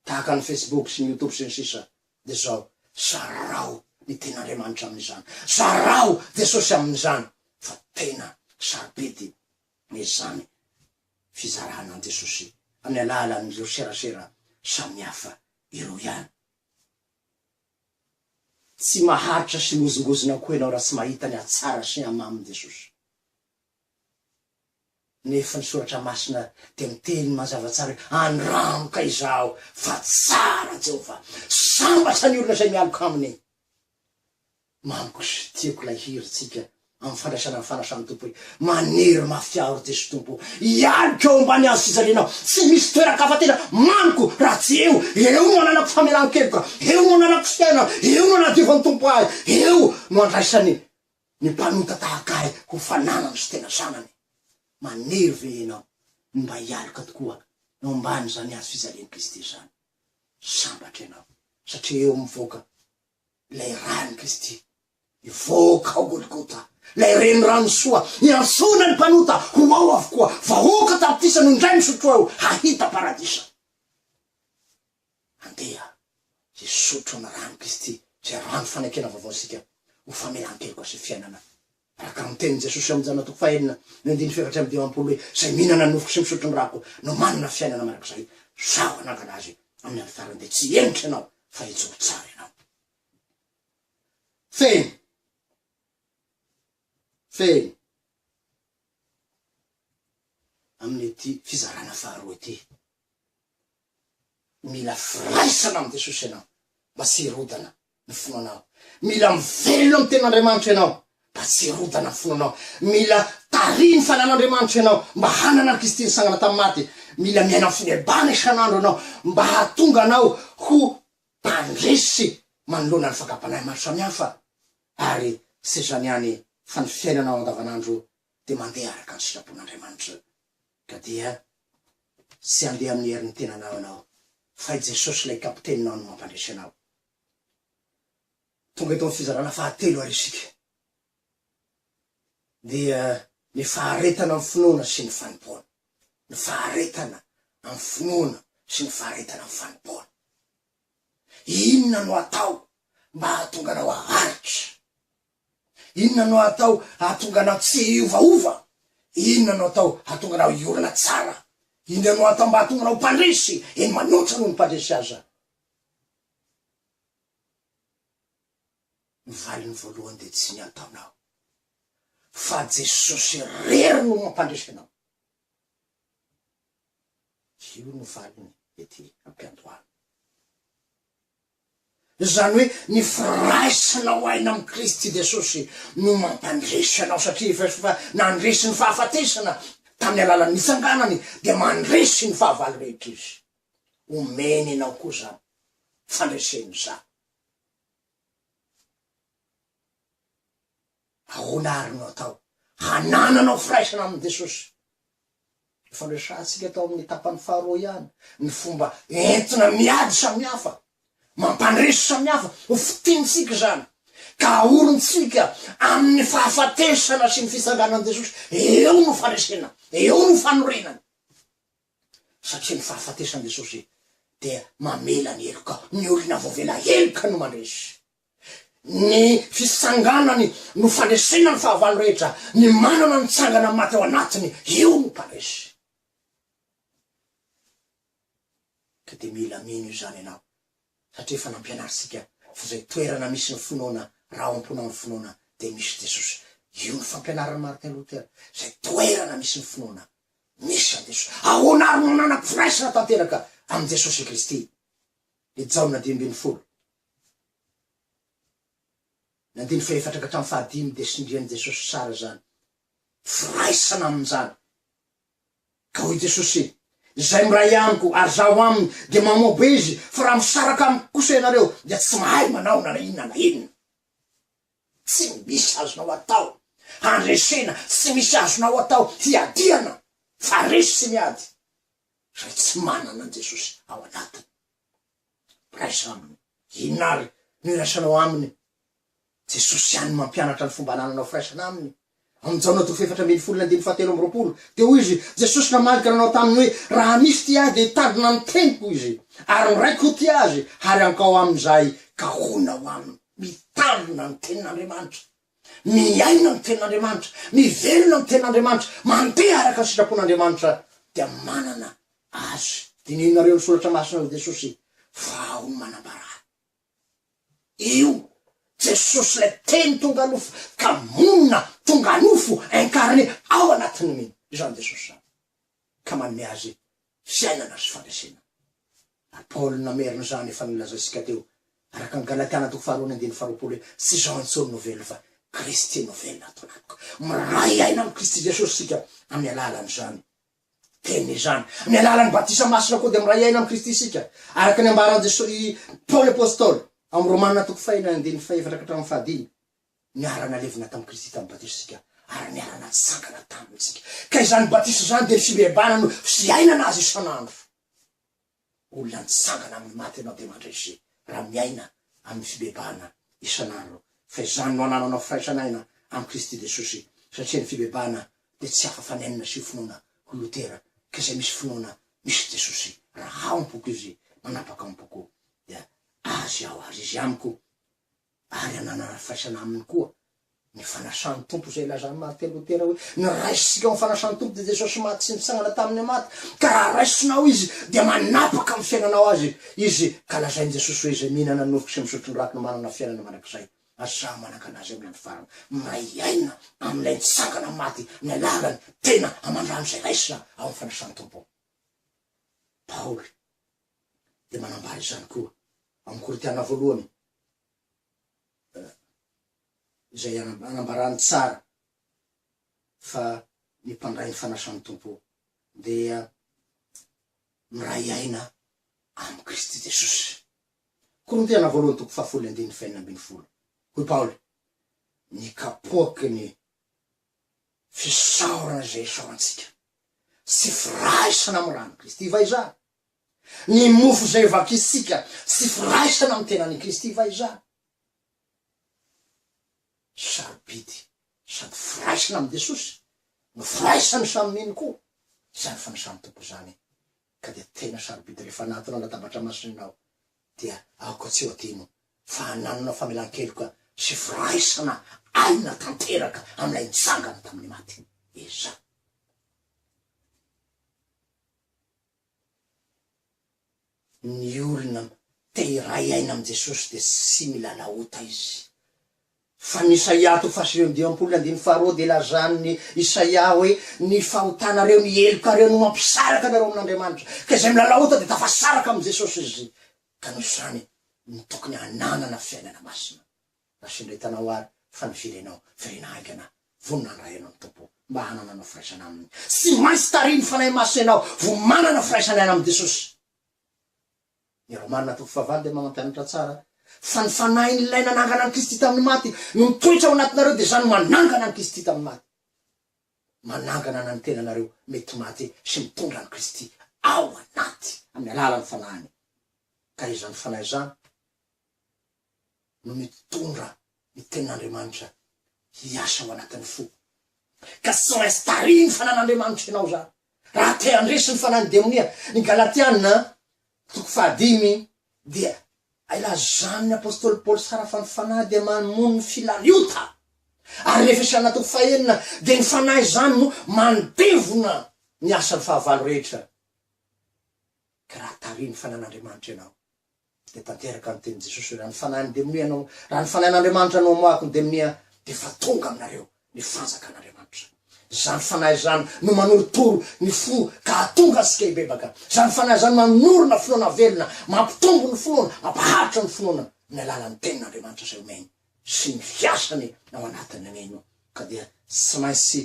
tahaka ny Facebook sy ny YouTube sy ny sisa dia izao, zarao ny tenin'Andriamanitra amin'izany, zarao Jesosy amin'izany fa tena sarobidy izany fizarana an'i Jesosy amin'ny alalan'ireo serasera samihafa ireo ihany. Tsy maharitra sy mozongozona koa ianao raha tsy mahita ny hatsara sy ny hamamin'i Jesosy. Nefa ny Soratra Masina dia miteny mazava tsara hoe, Andramoka izaho, fa tsara Jehovah. Sambatra ny olona izay mialoka aminy. Mamiko sy tiako ilay hirintsika Amin'ny fandraisana ny fanasan'ny Tompo hoe, Manery mafy aho ry Jesoa Tompo ô, hialoko eo ambany hazo fijaliana aho, tsy misy toeran-kafa tena mamiko raha tsy eo, eo no ananako famelan-keloka, eo no ananako fiainana, eo no anadiofan'ny Tompo ahy, eo no andraisany ny mpanota tahaka ahy ho fananany sy tena zanany. Manery ve ianao ny mba hialoka tokoa eo ambanin'izany hazo fijalian'i Kristy izany? Sambatra ianao satria eo mivoaka Ilay ran'i Kristy nivoaka ao Golgota, Ilay renirano soa iantsoana ny mpanota ho ao avokoa, Vahoaka tapitrisa no indray misotro ao hahita paradisa. Andeha hisotro amin'ny ran'i Kristy, izay rano fanekena vaovao isika, ho famelan-keloka sy fiainana Araka ny tenin'i Jesosy ao Jana toko fahenina ny andininy fahefatra amby dimampolo hoe, Izay mihinana ny nofoko sy misotro ny ràko no manana fiainana mandrakizay. Sao hanangana azy amin'ny andro farany dia tsy henitra ianao fa hijoro tsara ianao. Fehiny. Fehiny. Amin'ity fizarana faharoa ity. Mila firaisana amin'i Jesosy ianao mba tsy hirodana ny finoanao. Mila miverina amin'ny Tenin'Andriamanitra ianao mba tsy hirodana ny finoanao. Mila tarihin'ny fananan'Andriamanitra ianao mba hanana an'i Kristy nisangana tamin'ny maty. Mila miaina amin'ny fine-bana isan'andro ianao mba hahatonga anao ho mpandresy manoloana ny fakam-panahy maro samihafa. Ary tsy izany ihany fa ny fiainanao andavanandro dia mandeha araka ny sitrapon'Andriamanitra. Ka dia tsy handeha amin'ny herin'ny tenanao ianao, fa i Jesosy ilay Kapiteninao no mampandresy anao. Tonga eto amin'ny fizarana fahatelo ary isika. Dia ny faharetana amin'ny finoana sy ny fanompoana. Ny faharetana amin'ny finoana sy ny faharetana amin'ny fanompoana. Inona no atao mba hahatonga anao haharitra? Inona no atao hahatonga anao tsy hiovaova? Inona no atao hahatonga anao hiorina tsara? Inona no atao mba hahatonga anao mpandresy, eny manoatra noho ny mpandresy aza? Ny valiny voalohany dia tsy ny ataonao, fa Jesosy irery no mampandresy anao. Io no valiny ety am-piandohana. Izany hoe ny firaisanao aina amin'i Kristy Jesosy no mampandresy anao, satria efa efa nandresy ny fahafatesana tamin'ny alalan'ny nitsanganany, dia mandresy ny fahavalo rehetra izy. Omeny anao koa izany fandresena izany. Ahoana àry no atao hanananao firaisana amin'i Jesosy? Efa noresahantsika tao amin'ny tapany faharoa ihany ny fomba entina miady samihafa. Mampandresy samihafa ho fitiantsika izany, ka ahorintsika amin'ny fahafatesana sy ny fitsanganan'i Jesosy. Eo no faresena, eo no fanorenana. Satria ny fahafatesan'i Jesosy dia mamela ny heloka, ny olona voavela heloka no mandresy. Ny fisanganany no fandresena ny fahavalo rehetra, ny manana ny tsangana maty ao anatiny io no mpandresy. Ka dia mila mino izany ianao satria efa nampianarintsika fa izay toerana misy ny finoana raha ao am-pona ny finoana dia misy Jesosy. Io no fampianaran'i Martin Luther, izay toerana misy ny finoana misy an'i Jesosy. Ahoana ary no nanam-piraisana tanteraka amin'i Jesosy Kristy i Jaona dimy ambin'ny folo? Nandeha ny fahefatranga tamin'ny fahadimy dia sindrian'i Jesosy tsara izany firaisana amin'izany. Ka hoy Jesosy, Izay miray amiko ary Zaho aminy dia mamoabo izy, fa raha misaraka amiko kosa ianareo dia tsy mahay manao na inona na inona. Tsy misy azonao atao handresena, tsy misy azonao atao hiadiana, fa resy sy miady izay tsy manana an'i Jesosy ao anatiny. mpiraisa aminy. Inona àry no iraisanao aminy? Jesosy ihany no mampianatra ny fomba anananao firaisana aminy. Amin'ny Jaona toko fahefatra ambin'ny folo ny andininy fahatelo amby roapolo dia hoy izy, Jesosy namaly ka nanao taminy hoe, Raha misy tia ahy dia hitandrina ny teniko izy, ary ny Raiko ho tia azy, ary hankao amin'izay ka honao aminy. Mitandrina ny Tenin'Andriamanitra. miaina ny Tenin'Andriamanitra, mivelona ny Tenin'Andriamanitra, mandeha araka ny sitrapon'Andriamanitra dia manana Azy. Dinihinareo ny Soratra Masina ao Jesosy vao no manambara ahy. Io Jesosy ilay Teny tonga nofo ka monina, tonga nofo, incarné, ao anatin'ny mino. Izany Jesosy izany. Ka manome Azy fiainana sy fandresena. Ary Paoly no namerina izany efa nolazaintsika teo, araka ny Galatiana toko faharoa ny andininy faharoapolo hoe, Tsy izaho intsony no velona fa Kristy no velona ato anatiko. Miray aina amin'i Kristy Jesosy isika amin'ny alalan'izany Teniny izany. Amin'ny alalan'ny batisa masina koa dia miray aina amin'i Kristy isika, araka ny ambaran'i Jesosy i Paoly apostoly ao amin'ny Romana toko fahenina ny andininy fahefatra ka hatramin'ny fahadimy. Niara-nalevina tamin'i Kristy tamin'ny batisontsika ary niara-natsangana taminy isika, ka izany batisa izany dia ny fibeebana no fiainana azy isan'andro. Olona nitsangana amin'ny maty ianao dia mandresy raha miaina amin'ny fibeebana isan'andro, fa izany no anananao firaisan'aina amin'i Kristy Jesosy, satria ny fibeebana dia tsy hafa fa ny aina sy ny finoana ho Lotera, ka izay misy finoana misy Jesosy, raha ao am-poko Izy, manapaka ao am-poko dia Azy aho ary Izy amiko. ary ananana faisana aminy koa ny fanasan'ny Tompo, izay ilazan'i Martin Lotera hoe, Ny raisintsika ho amin'ny fanasan'ny Tompo dia Jesosy maty sy nitsangana tamin'ny amaty, ka raha raisinao Izy dia manapaka amin'ny fiainanao Azy Izy, ka lazain'i Jesosy hoe, Izay mihinana ny nofoko sy misotro ny rakiny manana fiainana mandrakizay, ary samy manan-kalahy izay amin'ny andro farany miray aina amin'ilay nitsangana amin'ny maty amin'ny alalany tena aman-drano izay raisina ao amin'ny fanasan'ny Tompo. Paoly. dia manambara izany koa amin'ny Korintiana voalohany, izay anambarany tsara fa ny mpandray ny fanasan'ny Tompo dia miray aina amin'i Kristy Jesosy. Korintiana voalohany toko fahafolo andininy fahenina ambin'ny folo. Hoy Paoly, ny kapoaky ny fisaorana izay isaorantsika, tsy firaisana amin'ny ran'i Kristy va izany? Ny mofo izay vakisika sy firaisana amin'ny tenan'i Kristy va izany? Sarobidy sady firaisana amin'i Jesosy no firaisan'ny samy mino koa izany fanisan'ny Tompo izany ka dia tena sarobidy rehefa anatona latabatra masina aho dia aoka tsy ho adino fa hananana famelan-keloka sy firaisana aina tanteraka amin'ilay nitsangana tamin'ny maty. Eza. Ny olona te hiray aina amin'i Jesosy dia tsy milalao ota izy. Fa ny Isaia toko fahasivy amby dimampolo andininy faharoa dia lazan'i Isaia hoe, Ny fahotanareo, ny helokareo no mampisaraka anareo amin'Andriamanitra. Ka izay milalao ota dia tafasaraka amin'i Jesosy izy ka nosainy ny tokony hananana fiainana masina. Naseretanao ary fa niverenao virena haingana, vonona handray Anao ny Tompo mba hanana anao firaisana Aminy. Tsy maintsy tarihin'ny Fanahy Masina ianao vao manana firaisana aina amin'i Jesosy. Ny Romana toko fahavalo dia mamampianatra tsara fa ny Fanahin'Ilay nanangana an'i Kristy tamin'ny maty no mitoetra ao anatinareo dia izany manangana an'i Kristy tamin'ny maty. Manangana na ny tenanareo mety maty sy mitondra an'i Kristy ao anaty amin'ny alalan'ny Fanahiny. Ka izany Fanahy izany. no mitondra ny tenin'Andriamanitra hiasa ao anatin'ny fo. Ka tsy maintsy tarihiny fa nan'Andriamanitra ianao izany, raha te handresy ny fanahin'ny demonia. Ny Galatiana, toko fahadimy, dia ilazan'ny apostoly Paoly tsara fa ny fanahy dia mamono ny filariota. Ary ny Efesiana, toko fahenina, dia ny fanahy izany no mandevona ny asan'ny fahavalo rehetra. Ka raha tary ny Fanahin'Andriamanitra ianao, dia tanteraka ny tenin'i Jesosy hoe, Raha ny Fanahy nideminia anao, raha ny Fanahin'Andriamanitra no amoahako nideminia, dia efa tonga aminareo ny Fanjakan'Andriamanitra. Izany Fanahy izany no manorotoro ny fo ka hahatonga antsika hibebaka. Izany Fanahy izany manorina finoana velona, mampitombo ny finoana, mampaharitra ny finoana amin'ny alalan'ny Tenin'Andriamanitra izay omeny sy ny fiasany ao anatin'ny mino. Ka dia tsy maintsy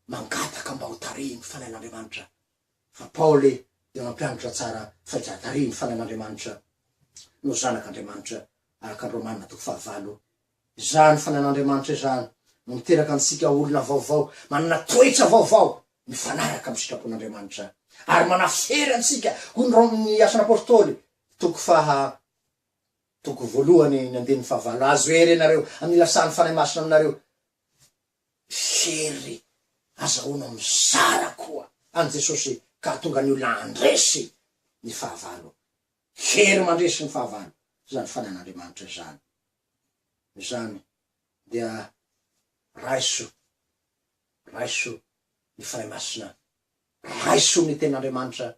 mangataka mba hotarihin'ny Fanahin'Andriamanitra Fa Paoly dia nampianatra tsara fa i Jadari, ny fanan'Andriamanitra, no zanak' Andriamanitra, araka ny Romana toko fahavalo. Izany fanan'Andriamanitra izany no miteraka antsika ho olona vaovao, manana toetra vaovao mifanaraka amin'ny sitrapon'Andriamanitra, ary manafery antsika, hoy ny Rom ny Asan' Apôstôly, toko faha toko voalohany ny andininy fahavalo, Azo hery ianareo amin'ny nilasan'ny Fanahy Masina aminareo. Mpijery, azahoanao mizara koa an'i Jesosy ka hahatonga ny olona handresy ny fahavalo. Hery mandresy ny fahavalo izany fanan'Andriamanitra izany. Noho izany dia raiso, raiso ny Fanahy Masina, raiso ny Tenin'Andriamanitra,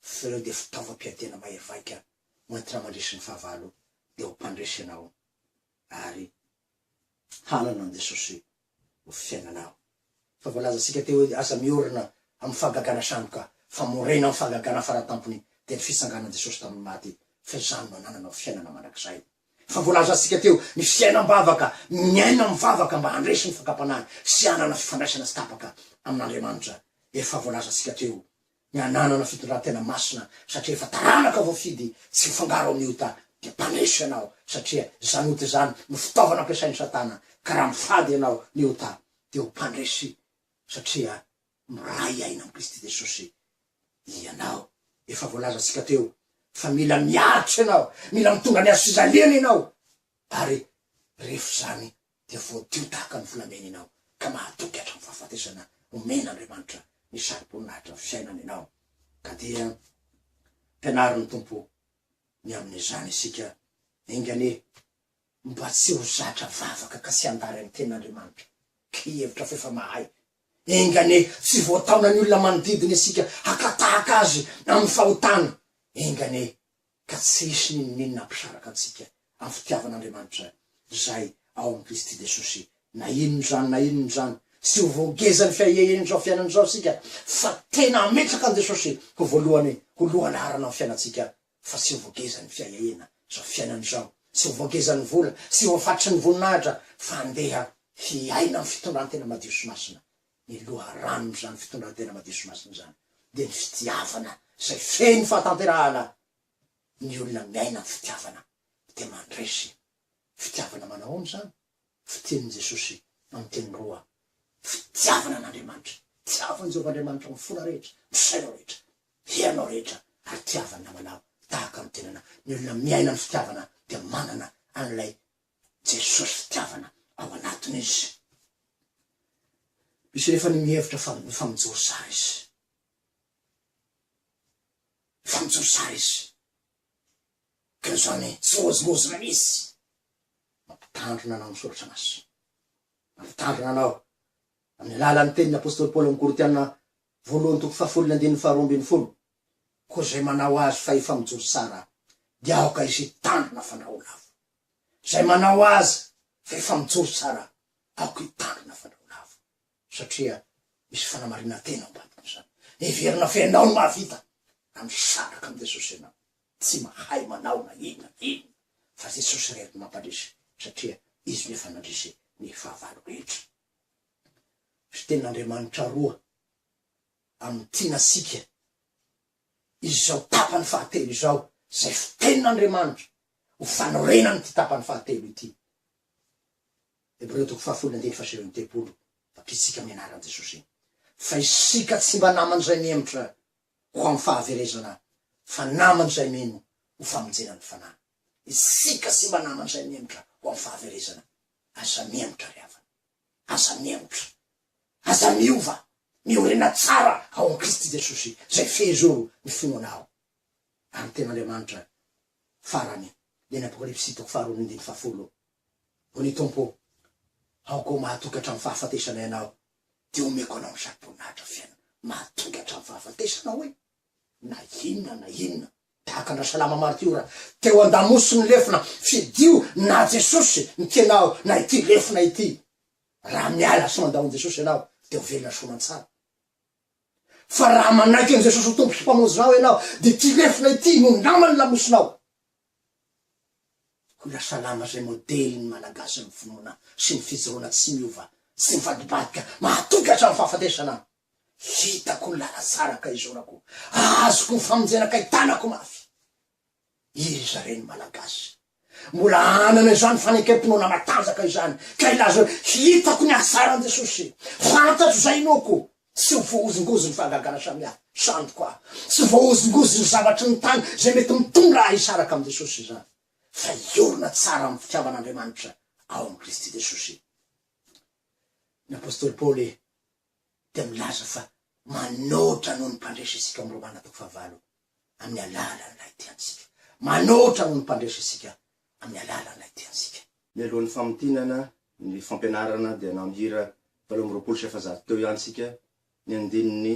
fa ireo dia fitaovam-piadiana mahery vaika hoentina mandresy ny fahavalo, dia ho mpandresy ianao ary hanana an'i Jesosy ho fiainanao. Fa voalazantsika teo hoe aza miorina amin'ny fahagagana sandoka, fa morena amin'ny fahagagana faratampony, dia ny fitsanganan'i Jesosy tamin'ny maty, fa izany no anananao fiainana mandrakizay. Fa voalazantsika teo ny fiainam-bavaka, miaina mivavaka mba handresy ny fakam-panahy sy hanana fifandraisana tsy tapaka amin'Andriamanitra. Efa voalazantsika teo ny hananana fitondran-tena masina satria efa taranaka voafidy tsy hifangaro amin'ny ota dia mpaneso ianao satria izany ota izany no fitaovana ampiasain'i satana ka raha mifady ianao ny ota dia ho mpandresy satria miray aina amin'i Kristy Jesosy ianao efa voalazantsika teo fa mila miaritra ianao mila mitondra ny azo fijaliana ianao ary rehefa izany dia voadio tahaka ny volamena ianao ka mahatoky hatramin'ny fahafatesana omen'Andriamanitra ny sarom-boninahitra fiainana ianao. Ka dia ampianarin'ny Tompo ny amin'izany isika, Enga anie mba tsy ho zatra vavaka ka tsy handary ny ten'Andriamanitra ka hihevitra f'efa mahay. Enga anie tsy voataona ny olona manodidina isika haka tahaka azy amin'ny fahotana. Enga anie ka tsy hisy n'inon'inona hampisaraka antsika amin'ny fitiavan'Andriamanitra izay ao amin'i Kristy Jesosy. Na inona izany na inona izany, tsy ho voagezan'ny fiahiahian'izao fiainana izao isika, fa tena hametraka an'i Jesosy ho voalohany, ho lohalaharana amin'ny fiainantsika, fa tsy ho voagezan'ny fiahiahiana izao fiainana izao, tsy ho voagezan'ny vola, tsy ho hafatry ny voninahitra, fa handeha hiaina amin'ny fitondrantena madio sy masina Ny loharanon'izany fitondran-tena madio sy masina izany dia ny fitiavana izay feno fahatanterahana. Ny olona miaina amin'ny fitiavana dia mandresy. Fitiavana manao ahoana izany? Fitian'i Jesosy amin'ny teny roa, fitiavana an'Andriamanitra. Tiavo an'i Jehovah Andriamanitra amin'ny fonao rehetra, amin'ny sainao rehetra, herinao rehetra, ary tiavo ny namanao tahaka ny tenanao. Ny olona miaina amin'ny fitiavana dia manana an'ilay Jesosy fitiavana ao anatiny izy. Misy anefa ny mihevitra fa mifa mijoro zara izy. Mifa mijoro zara izy. Ka izany tsy famozimbozina mihitsy. Mampitandrina anao ny soratra masina. Mampitandrina anao amin'ny alalan'ny tenin'ny apostoly Paoly ao amin'ny Korintiana voalohany toko fahafolo ny andininy faharoa ambin'ny folo Koa izay manao azy fa efa mijoro tsara dia aoka izy hitandrina fandrahon'afo. Izay manao azy fa efa mijoro tsara aoka hitandrina fandrahon'afo. Satria misy fanamarinan-tena ao am-baton'izany. Heverina fa ianao no mahavita raha misandraka amin'i Jesosy ianao. Tsy mahay manao na inona na inona fa Jesosy irery no mampandresy satria Izy no efa nandresy ny fahavalo rehetra. Misy tenin'Andriamanitra roa amin'ny tianasika izao tapany fahatelo izao izay fitenin'Andriamanitra ho fanorenana ity tapany fahatelo ity. Hebreo toko fahafolo andiny fahasivy amby telopolo, Vakitsika amin'ny anaran'i Jesosy iny. Fa isika tsy mba naman'izay mihemotra ho amin'ny fahaverezana fa naman'izay mino ho famonjena ny fanahy. Isika tsy mba naman'izay mihemotra ho amin'ny fahaverezana. Aza mihemotra ry havana. Aza miembotra. Aza miova. Miorina tsara ao amin'i Kristy Jesosy, izay fehezoro ny finoana anao. Ary ny Tenin'Andriamanitra farany, dia ny Apokalypsy toko faharoa ny andininy fahafolo, Hoy ny Tompo, Aoka ho mahatoky hatramin'ny fahafatesana ianao, dia omeko anao ny saro-boninahitra fiainana mahatoky hatramin'ny fahafatesana, hoy. Na inona na inona tahaka an-dra Salama martiora teo an-damosy ny lefona, fidio na Jesosy ny tenao na ity lefona ity. Raha miala sy mandao an'i Jesosy ianao dia ho velona soa aman-tsara. Fa raha manaiky an'i Jesosy ho Tompo sy Mpamonjinao ianao dia ity lefona ity no naman'ny lamosinao. Hoy Ra Salama izay modelin'ny Malagasy amin'ny finoana sy ny fijoroana tsy miova, tsy mivadibadika, mahatoky hatramin'ny fahafatesana. Vitako ny lalan-tsaraka izorako azoko ny famonjena kay tanako mafy iza re ny malagasy mbola anana izany fanekem-pinoana matanjaka izany kay laza hitako ny ahasaran jesosy fantatro izay inoako tsy ho voahozongozo ny fahagagana samihafa sandiko aho tsy voahozongozo ny zavatry ny tany izay mety mitondra ahy hisaraka amin'i jesosy izany fa hiorina tsara amin'ny fitiavan'andriamanitra ao amin'i kristy jesosy ny apostoly paoly dia milaza fa manoatra noho ny mpandresy isika ao amin'ny Romana toko fahavalo amin'ny alalan'ilay tiantsika. Manoatra noho ny mpandresy isika amin'ny alalan'ilay tiantsika. Mialoha ny famintinana
ny fampianarana dia nahira valo amby roapolo sy efajato teo ihany isika ny andininy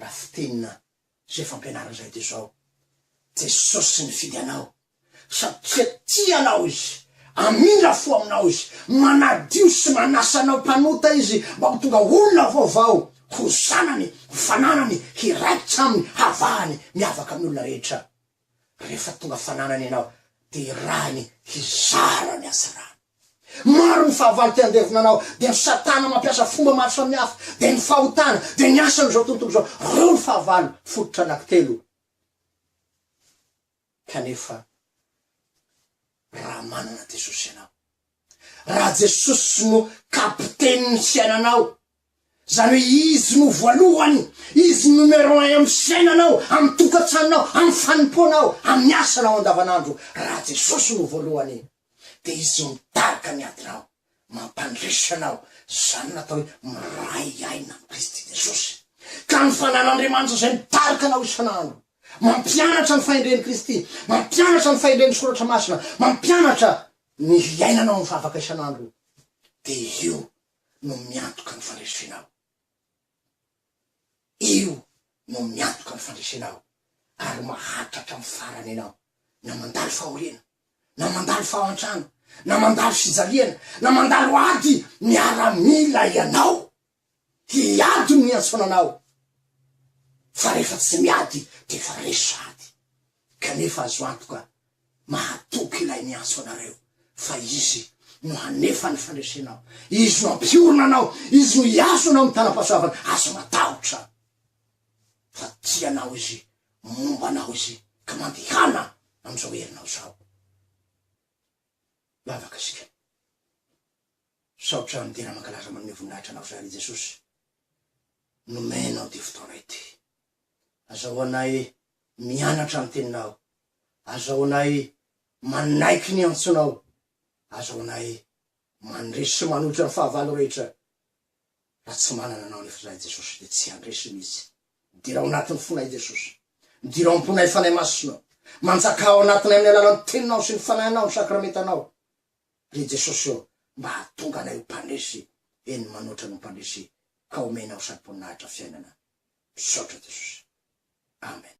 Raha fitenina izay fampianarana izay dia izao, Jesosy nifidy anao satria tia anao Izy, hamindra fo aminao Izy, manadio sy manasa anao mpanota Izy mba ho tonga olona vaovao, ho zanany, ho fananany, hiraikitra aminy, havahany, miavaka amin'ny olona rehetra. Rehefa tonga fananana ianao dia irahiny hizara ny hatsarany. Maro ny fahavalo te handevo nanao dia ny satana mampiasa fomba maro samihafa dia ny fahotana dia ny asan' izao tontolo izao ireo ny fahavalo fototra anaky telo kanefa Raha manana Jesosy ianao, raha Jesosy no kapitenin'ny fiainanao, izany hoe Izy no voalohany, Izy no numero un amin'ny fiainanao, amin'ny tokantranonao, amin'ny fanompoanao, amin'ny asanao andavanandro, raha Jesosy no voalohany, dia Izy mitarika ny adinao. Mampandresy ianao. Izany no atao hoe miray aina amin'i Kristy Jesosy. Ka ny fananan'Andriamanitra izay midaroka anao isan'andro, mampianatra ny fahendren'i Kristy, mampianatra ny fahendren'ny Soratra Masina, mampianatra ny hiainanao mivavaka isan'andro, dia io no miantoka ny fandresenao. Io no miantoka amin'ny fandresena ao ary maharitra hatramin'ny farany ianao, na mandalo fahoriana, na mandalo fahantrana, na mandalo fijaliana, na mandalo ady miaramila ianao. Hiady no niantsoana anao, fa rehefa tsy miady dia efa resy sahady. Kanefa azo antoka, mahatoky Ilay miantso anareo, fa Izy no hanefa ny fandresenao, Izy no hampiorina anao, Izy no hiazo anao amin'ny tanam-pahasoavany. Aza matahotra, fa tia anao Izy, momba anao Izy, ka mandehana amin'izao herinao izao. Lavaka isika. Misaotra amin'ny tena mankalaza manome voninahitra anao izay, ry Jesosy, nomenao ity fotoana ity. Azahoanay mianatra ny Teninao. Azahoanay manaiky ny antsonao. Azahoanay mandresy sy manohitra ny fahavalo rehetra. Raha tsy manana Anao anefa izahay, Jesosy, dia tsy handresy mihitsy. Midira ao anatin'ny fonay, Jesosy. Midira ao am-ponay Fanahy Masina. Manjakà ao anatinay amin'ny alalan'ny Teninao sy ny Fanahinao, ny Sakramentanao. Ry Jesosy ô, mba hahatonga anay ho mpandresy, eny, manoatra ny ho mpandresy ka omenao sampon nahitra fiainana misaotra jesosy amen.